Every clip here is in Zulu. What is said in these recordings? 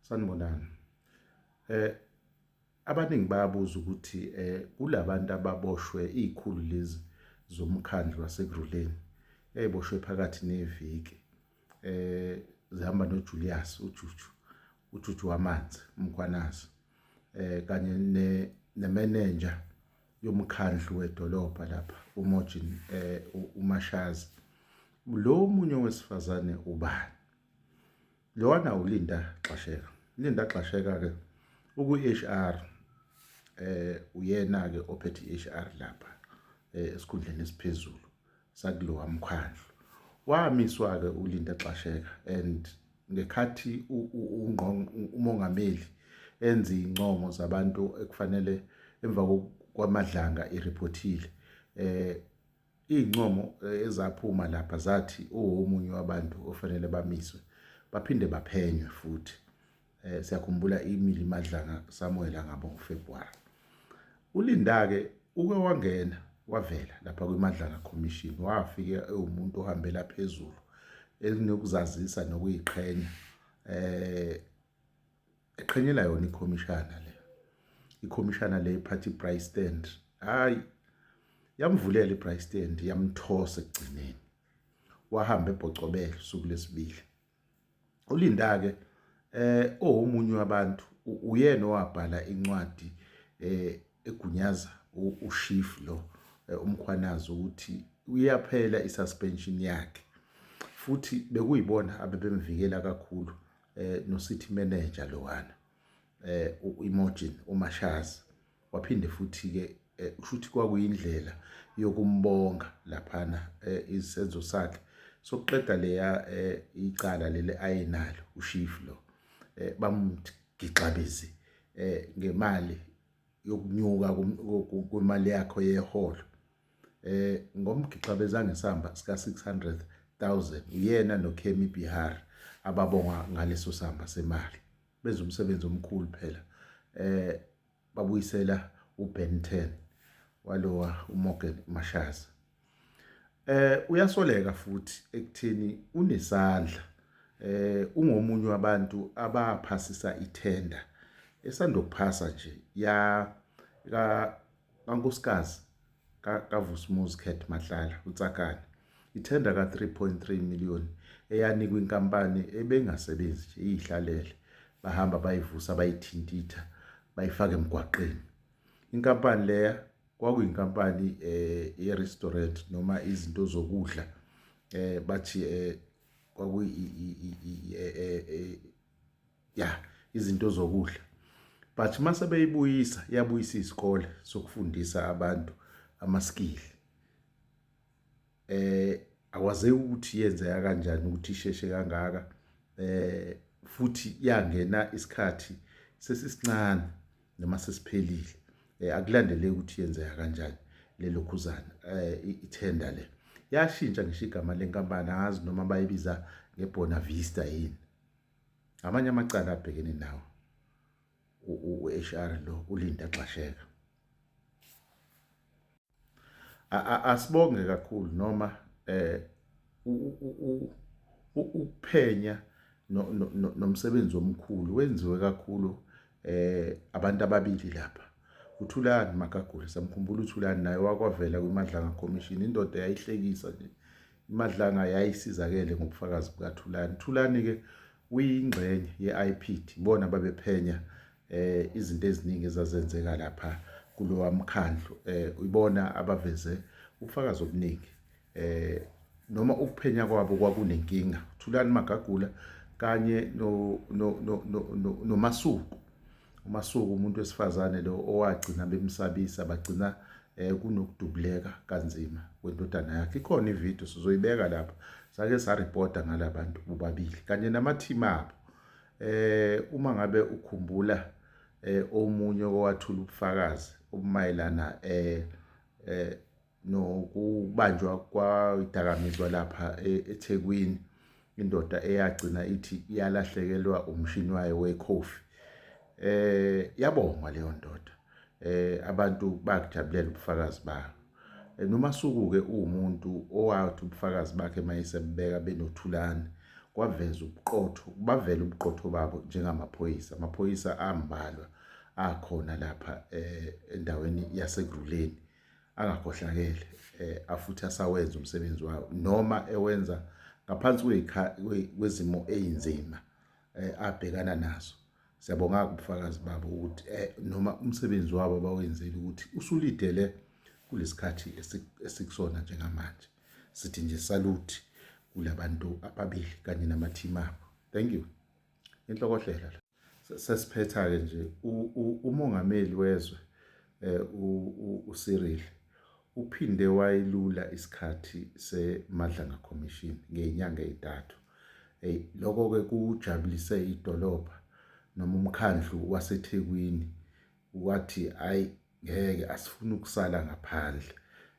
Sanibonani. Eh abaningi bayabuza ukuthi eh kulabantu ababoshwe izikhulu lezi zomkhandlu waseGruleni eziboshwe phakathi neviki eh zihamba noJulius uJuju uJuju wamanzi umkhwanazi eh kanye ne nemenenja yomkhandlu wedolobha lapha uMojin eh uMashazi lo munye wesifazane ubani Lowana uLinda Xasheka. Linda Xasheka ke uku-HR eh uyena ke ophethe i-HR lapha eh, esikhundleni esiphezulu sakulowa mkhandlu. Wamiswa ke uLinda Xasheka and ngekhathi umongameli enza incomo zabantu ekufanele emva kwamadlanga irepotile eh Izincomo eh, ezaphuma lapha zathi uwomunye wabantu ofanele bamiswe baphinde baphenywe futhi eh siyakhumbula imili madlanga Samuela ngabo ngoFebruary uLinda ke uke wangena wavela lapha kwiMadlanga Commission wafike ewumuntu ohambela phezulu elinokuzazisa nokuyiqhenya eh eqhenyela yona ikhomishana le ikhomishana le iphatha i-price stand hayi yamvulela i-price stand yamthosa ekugcineni wahamba ebhocobele usuku lesibili ulinda-ke eh owomunye wabantu uyena owabhala incwadi eh egunyaza ushief lo eh, umkhwanazi ukuthi uyaphela i-suspension yakhe futhi bekuyibona abebemvikela kakhulu eh no city manager lowana eh uImojin uMashazi waphinde futhi ke eh, ushuthi kwakuyindlela yokumbonga laphana eh, isenzo sakhe sokuqeda leya eh, icala leli ayenalo uShief lo eh, bamgixabezi eh ngemali yokunyuka kwemali yakho yeholo eh ngomgixabeza ngesamba sika 600,000 uyena noKemi Bihar ababonga ngaleso samba semali benza umsebenzi omkhulu phela eh babuyisela uBen 10 walowa uMorgan Mashaza eh uyasoleka futhi ekutheni unesandla eh ungomunye wabantu abaphasisa ithenda esandokuphasa nje ya ka kankosikazi kaVusumuzi Cat Matlala, uTsakani, ithenda ka-3.3 million eyanikwa inkampani ebeyingasebenzi nje iyihlalele, bahamba bayivusa bayithintitha bayifaka emgwaqeni. Inkampani leya kwakuyinkampani eh, ye-restaurant noma izinto zokudla eh, bathi eh, kwakuyi eh, eh, eh, ya izinto zokudla but mase beyibuyisa yabuyisa izikole sokufundisa abantu amaskili eh awaze ukuthi yenzeka kanjani ukuthi isheshe kangaka eh futhi yangena isikhathi sesisincane noma sesiphelile eh akulandeleki ukuthi yenzeka kanjani lelokhuzana eh ithenda le yashintsha ngisho igama lenkampani angazi noma bayibiza ngebona vista yini Ngamanye amacala abhekene nawo u-HR lo uLinda Xasheka. Asibonge kakhulu noma eh ukuphenya nomsebenzi omkhulu wenziwe kakhulu eh abantu ababili lapha uThulani Magagula samkhumbula uThulani naye wakwavela kwiMadlanga Commission indoda yayihlekisa nje IMadlanga yayisizakele ngobufakazi bukaThulani. Thulani-ke uyingxenye ye-IPID, ibona babephenya um izinto eziningi ezazenzeka lapha kulowa mkhandlu. um Ibona abaveze ubufakazi obuningi. um Noma ukuphenya kwabo kwakunenkinga. Thulani Magagula kanye noMasuku. UMasuku umuntu wesifazane lo owagcina bemsabisa bagcina eh kunokudubuleka kanzima kwendodana yakhe ikhona ivideo sizoyibeka lapha sake sareporta ngalabantu bobabili kanye nama team abo eh uma ngabe ukhumbula eh omunye owathula ubufakazi obumayelana eh eh nokubanjwa kwayidakamizwa lapha e-, eThekwini indoda eyagcina ithi iyalahlekelwa umshini wayo wekhofi eh yabongwa leyo ndoda eh abantu bakujabulela ubufakazi bayo eh, noma sukuke uwumuntu owathi ubufakazi bakhe mayesebeka benothulane kwaveza ubuqotho bavela ubuqotho babo njengamaphoyisa amaphoyisa ambalwa akhona lapha eh, endaweni yaseGruleni angakhohlakele eh, afuthi asawenza umsebenzi wawo noma ewenza ngaphansi kwezimo eyinzima eh, abhekana nazo siyabonga kubufakazi babo ukuthi eh, noma umsebenzi wabo abawenzile ukuthi usulidele kulesikhathi esikusona njengamanje sithi nje salute kulabantu ababili kanye namathimu abo thank you inhlokohlela le sesiphetha-ke nje umongameli wezwe eh, uCyril uphinde wayilula isikhathi seMadlanga Commission ngenyanga ezintathu eyi lokho-ke kujabulise idolobha noma umkhandlu wasethekwini wathi hhayi ngeke asifuni ukusala ngaphandle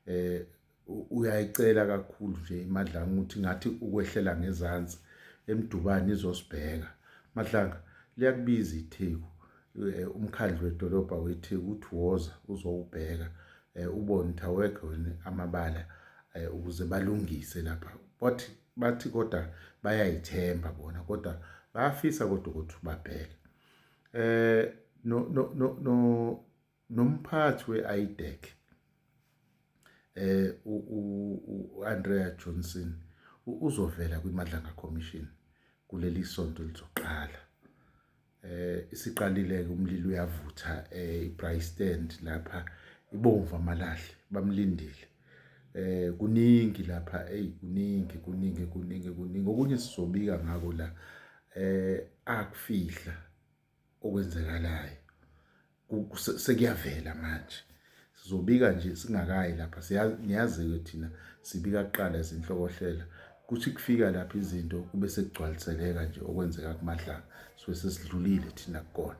um uyayicela kakhulu nje imadlanga ukuthi ngathi ukwehlela ngezansi emdubane izosibheka madlanga liyakubiza itheku eh, umkhandlu wedolobha wetheku uthi woza uzowubheka eh, ubone ukuthi awekho yini amabala eh, ukuze balungise lapha but bathi kodwa bayayithemba bona kodwa bayafisa kodwa ukuthi ubabheke eh no no no nomphathi we-IDEC eh u-Andrea Johnson uzovela kwiMadlanga Commission kuleli sonto lizoqala eh isiqalile ke umlilo uyavutha eh iBright Stand lapha ibomvu amalahle bamlindile eh kuningi lapha hey kuningi kuningi kuningi kuningi okunye sizobika ngako la eh akufihla okwenzekalayo sekuyavela manje sizobika nje singakayi lapha siyazi-ke thina sibika kuqala izinhlokohlela kuthi kufika lapha izinto kube sekugcwaliseleka nje okwenzeka kumadlanga suke sesidlulile thina kukona